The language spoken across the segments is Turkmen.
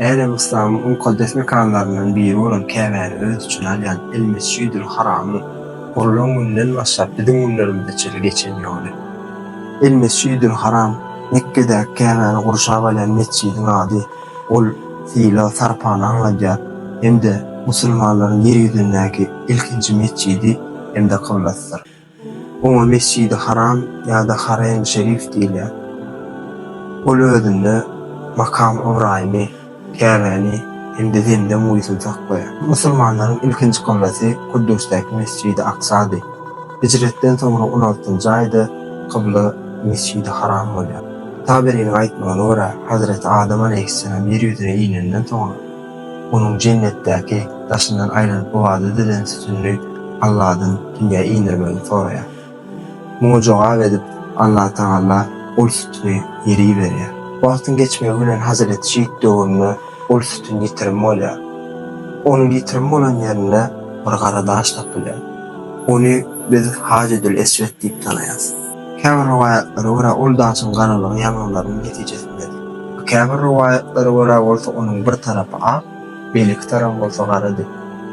Älem yslamyň mukaddes mekanlaryndan biri bolan Käbäni öz içine alýan El-Mesjidül Haramyň gurlan gününden başlap biziň günlerimize çenli geçen ýoly. El-Mesjidül Haram, Mekgedäki Käbäni gurşap alýan metjidiň ady. Ol sylag-sarpany aňladýar hem-de musulmanlaryň ýer ýüzündäki ilkinji metjidi hem-de kyblasydyr. Oňa Mesjidi Haram ýa-da Harem Şerif diýilýär. Ol özünde Makam Ybraýymy, Käbäni hem-de Zemzem guýusyny saklaýar. Musulmanlaryň ilkinji kyblasy Kuddusdäki Mesjidi Aksady. Hijretden soňra on altynjy aýda kybla Mesjidi Haram bolýar. Taberiniň aýtmagyna görä, Hazreti Adam aleýhissalam ýer ýüzüne inenden soňra, onuň jennetdäki daşyndan aýlanyp ybadat edilen sütünini Alladan dünýä indirmegini soraýar. Muňa jogap edip, Allatagala ol sütüni ýere iberýär. Wagtyň geçmegi bilen Hazreti Şit döwründe ol sütün ýitirim bolýar. Onuň ýitirim bolan ýerinde bir gara daş tapylýar. Ony biz Hajedül-Eswet diýip tanaýarys. Käbir rowaýatlara görä ol daşyň garalygy ýangynlaryň netijesindedir. Käbir rowaýatlara görä bolsa onuň bir tarapy ak, beýleki tarapy bolsa garady.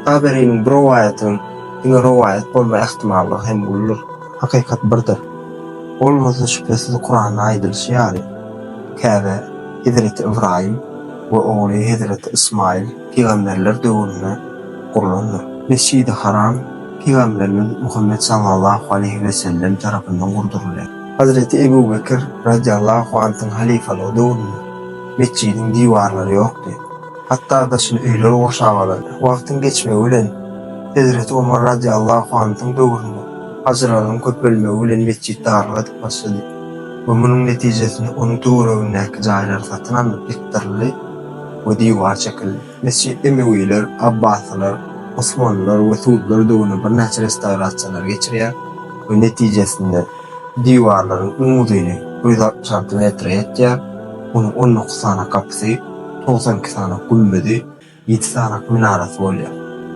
Taberiniň bu rowaýatynyň diňe rowaýat bolma ähtimallygy hem uludyr. Hakykat birdir. Ol bolsa şübhesiz Kuranda aýdylyşy ýaly, Käbä, hezreti Ybraýym we ogly hezreti Ysmaýyl, pygamberler döwründe gurlandyr. Mesjidi Haram pygamberimiz Muhammet sallallahu aleýhi we sellem tarapyndan gurdurylýar. Hazreti Ebu Bekir radiallahu antyň halyfalygy döwründe metjidiň diwarlary ýokdy, hatda daşyny öýler gurşap alardy. Wagtyň geçmegi bilen Hezreti Omar radiallahu antyň döwründe hajylaryň köpelmegi bilen metjit dargadyp başlady we munuň netijesinde onuň töweregindäki jaýlar satyn alnyp ýykdyryldy. we diwar çekildi. Mesjit emewiler, abbasylar, osmanlylar we suudlar döwründe birnäçe restawrasiýalary geçirýär we netijesinde diwarlaryň iň uzyny ýüz altmyş alty metre ýetýär, onuň on dokuz sany gapysy, togsan iki sany gümmezi, ýedi sany minarasy bolýar.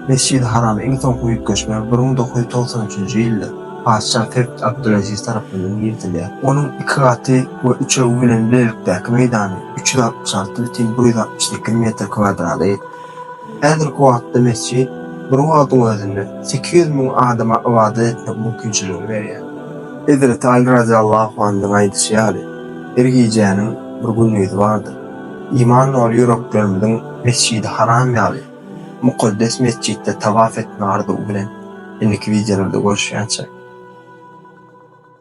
Mesjidi Harama iň soňky üýtgeşme bir müň dokuz ýüz togsan üçünji ýylda, Patyşa Tagt Abdüleziz tarapyndan girizilýär. Onuň iki gaty we üçegi bilen bilelikdäki meýdany üç ýüz altmyş alty bütin bir ýüz altmyş sekiz metr kwadrada ýetýär. Häzirki wagtda mesjit bir wagtyň özünde sekiz ýüz müň adama ybadat etmek mümkinçiligini berýär. Hezreti Aly razyýallahu anhyň aýdyşy ýaly, Her gijäniň bir gündizi bardyr. Iman doly ýüreklerimiziň Mesjidi Haram ýaly, Mukaddes mesjitde tawaf etme arzuwy bilen indiki wideolarda görüşýänçäk.